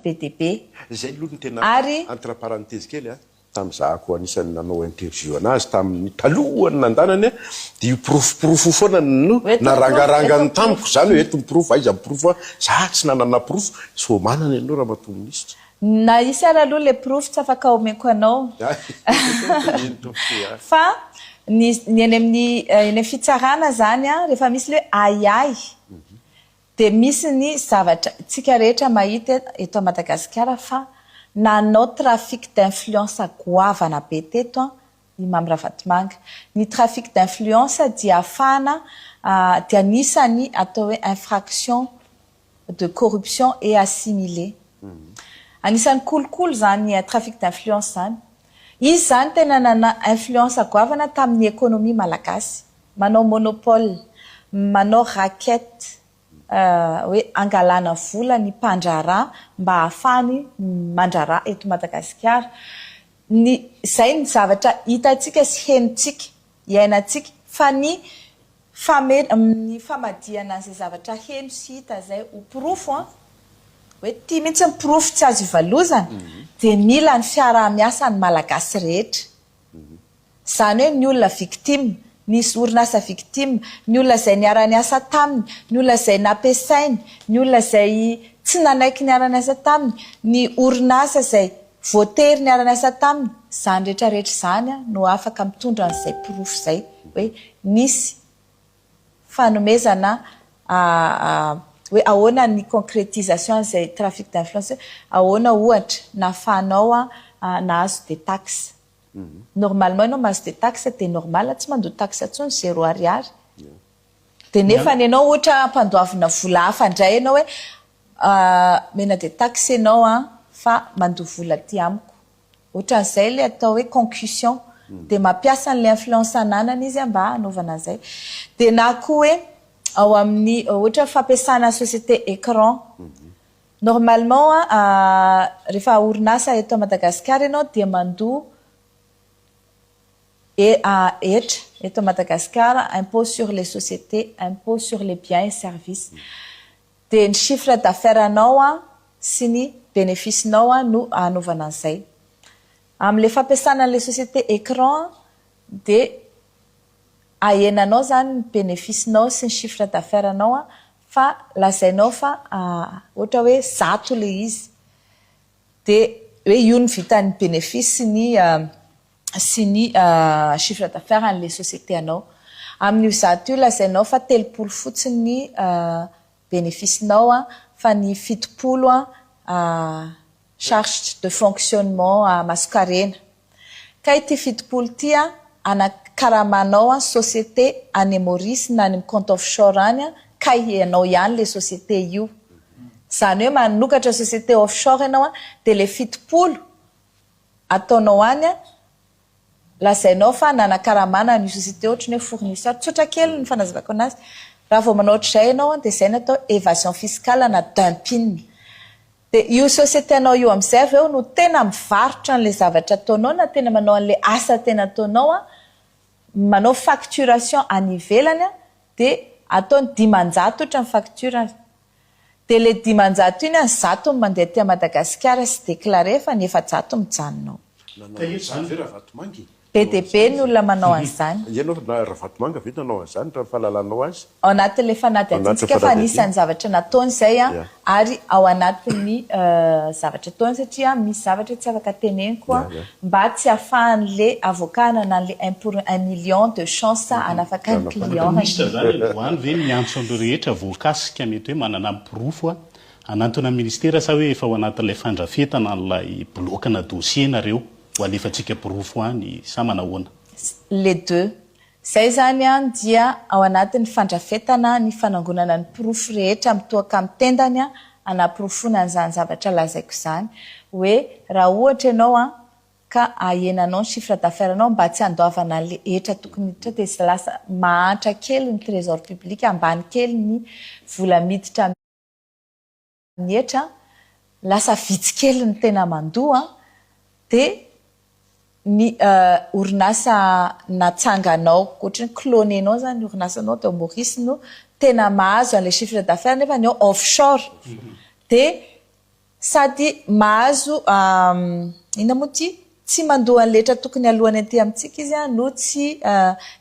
be dia be. Izay aloha no tena entre parenthèse kely an. Tamin'ny zahako anisan'ny nanao interview anazy tamin'ny talohan'ny nandanany dia io porofo porofo io foana no narangarangany tamiko izany hoe eto ny porofo aiza ny porofo an, za tsy nanana porofo, sao manana ianao ramatoa minisitra. Na hisy ary aloha ilay porofo tsy afaka omeko anao fa ny eny amin'ny fitsarana izany an rehefa misy ilay hoe ahiahy Dia misy ny zavatra tsika rehetra mahita eto Madagasikara fa nanao trafic d'influence goavana be teto an i Mamy Ravatomanga. Ny trafic d'influence dia afahana dia anisany atao hoe infraction de corruption et assimilé. Anisany kolikoly izany trafic d'influence izany. Izy izany tena nana influence goavana tamin'ny economie malagasy. Manao monopole, manao raquette hoe angalana vola ny mpandraharaha mba hahafahany mandraharaha eto Madagasikara. Ny, izay ny zavatra hitantsika sy henontsika, iainantsika, fa ny fame, ny famadihana an'izay zavatra heno sy hita izay ho porofo an, hoe ity mihitsy ny porofo tsy azo ivalozana, dia mila ny fiaraha-miasan'ny Malagasy rehetra. Izany hoe ny olona victime, ny orinasa victime, ny olona izay niara-niasa taminy, ny olona izay nampiasainy, ny olona izay tsy nanaiky niara-niasa taminy, ny orinasa izay voatery niara-niasa taminy, izany rehetra rehetra izany no afaka mitondra an'izay porofo izay hoe nisy fanomezana hoe ahoana ny concrétisation an'izay trafic d'influence hoe ahoana ohatra nahafahanao nahazo des taxes. normalement enao mahazo de tax de normal tsy mandoa tax tsony zero ariary de nefany enao ohatra ampandoavina vola hafa ndray enao hoe omena de tax enao an fa mandoa vola aty amiko ohatran'izay le atao hoe concussion de mampiasa anle influence ananany izy mba hanaovana an'izay de na koa hoe ao amin'ny ohatra fampiasana société écran Normalement a rehefa orinasa eto Madagascar ianao dia mandoa EAH eto Madagascar, impôt sur les sociétés, impôt sur les biens et services. Dia ny chiffre d'affaires anao a sy ny bénéfice nao a no anaovana an'izay. Amin'ilay fampiasana an'ilay société ecran dia ahenanao izany ny bénéfice nao sy ny chiffre d'affaires nao a Fa lazainao fa ohatra hoe zato ilay izy dia hoe io ny vitan'ny bénéfice sy ny sy ny chiffre d'affaires an'ilay société anao. Amin'io zato io lazainao fa telopolo fotsiny ny bénéfice-nao fa ny fitopolo charges de fonctionnement a masonkarena kay ty fitopolo ty a ana karamanao a société any Maurice na any compte offshore any a kay ianao ihany le société io zany hoe manokatra société offshore ianao a de le fitopolo ataonao any a Lazainao fa nanakaramana an'io société ohatran'ny hoe fournisseur. Tsotra kely ny fanazavako anazy. Raha vao manao ohatr'izay ianao dia izay no atao évasion fiscale na dumping. Dia io société anao io amin'izay avy eo no tena mivarotra an'ilay zavatra ataonao na tena manao an'ilay asa tena ataonao, manao facturation any ivelany dia ataony dimanjato ohatra ny facture. Dia le dimanjato iny an zato no mandeha aty a Madagasikara sy declare fa ny efajato mijanona ao. Nanao an izany ve Ravatomanga e? Be dia be ny olona manao an izany. Ianao Ravatomanga ve nanao an izany raha ny fahalalanao azy? Ao anatin le fanadihadiantsika fa anisan'ny zavatra nataony izay an ary ao anatin'ny zavatra ataony satria misy zavatra tsy afaka teneniko an mba tsy afahan'le avocat anana an'le un pour un million de chance hanafaka ny client any. Minisitra zany any voany ve miantso an'ireo rehetra voakasika mety hoe manana ny porofo a, hanantona ny ministera sa hoe efa ao anatin'ilay fandrafetana an'ilay bilaokana dossier nareo ho alefantsika porofo any sa manahoana? Les deux. Izay izany an dia ao anatin'ny fandrafetana ny fanangonana ny porofo rehetra mitohaka amin'ny tendany an hanaporofoana an'izany zavatra lazaiko izany hoe raha ohatra ianao an ka ahena anao ny chiffre d'affaires nao mba tsy handoavana an'ilay hetra tokony hiditra dia izay lasa mahantra kely ny trésor public ambany kely ny vola miditra ny hetra, lasa vitsy kely ny tena mandoa, dia ny orinasa natsanganao, ohatry ny clone-nao izany ny orinasanao dia ao Maurice no tena mahazo an'ilay chiffre d'affaires nefa ny ao offshore, dia sady mahazo inona moa ity, tsy mandoa an'ilay hetra tokony aloany aty amintsika izy no tsy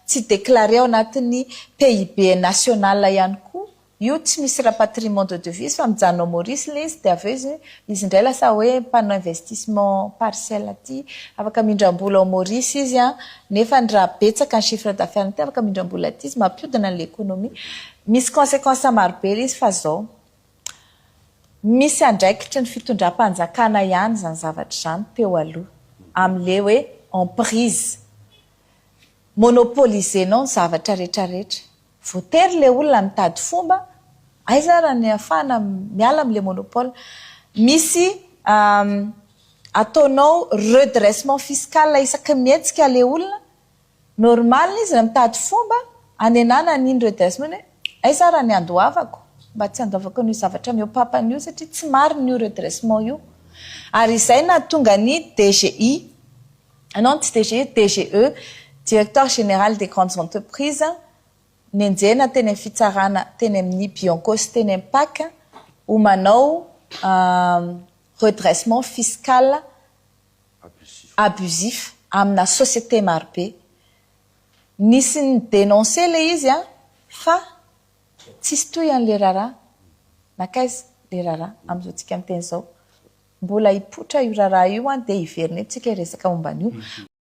tsy déclaré ao anatin'ny PIB national ihany koa. Io tsy misy rapatriement de devise fa mijanona ao Maurice ilay izy dia avy eo izy izy indray lasa hoe mpanao investissement partiel aty afaka mindram-bola ao Maurice izy an! nefa ny raha betsaka ny chiffre d'affaires-ny aty afaka mindram-bola aty izy mampiodina an'ilay économie misy consequences maro be ilay izy fa izao misy andraikitry ny fitondram-panjakana ihany izany zavatra izany teo aloha amin'ilay hoe emprise monopoliser-nao ny zavatra rehetra rehetra. Voatery le olona mitady fomba, aiza ara ny afahana miala amle monopole. Misy ataonao redressement fiscal isaky ny mihetsika le olona, normal izy raha mitady fomba anenana an'iny redressement iny hoe aiza ara ny andoavako mba tsy handoavako an'io zavatra mihoapapana io satria tsy marina io redressement io. Ary izay nahatonga ny DGI. Ianao no tsy DG, DGE, Directeur Général des Grandes Entreprises, nenjehina teny amin'ny fitsarana teny amin'ny Bianco sy teny amin'ny Pac ho manao redressement fiscal abusif amina société marobe. Nisy ni-denoncer ilay izy fa tsisy tohiny ilay raharaha. Nankaiza ilay raharaha amin'izao tsika miteny izao? Mbola hipoitra io raharaha io an, dia hiverina eo tsika hiresaka momba an'io.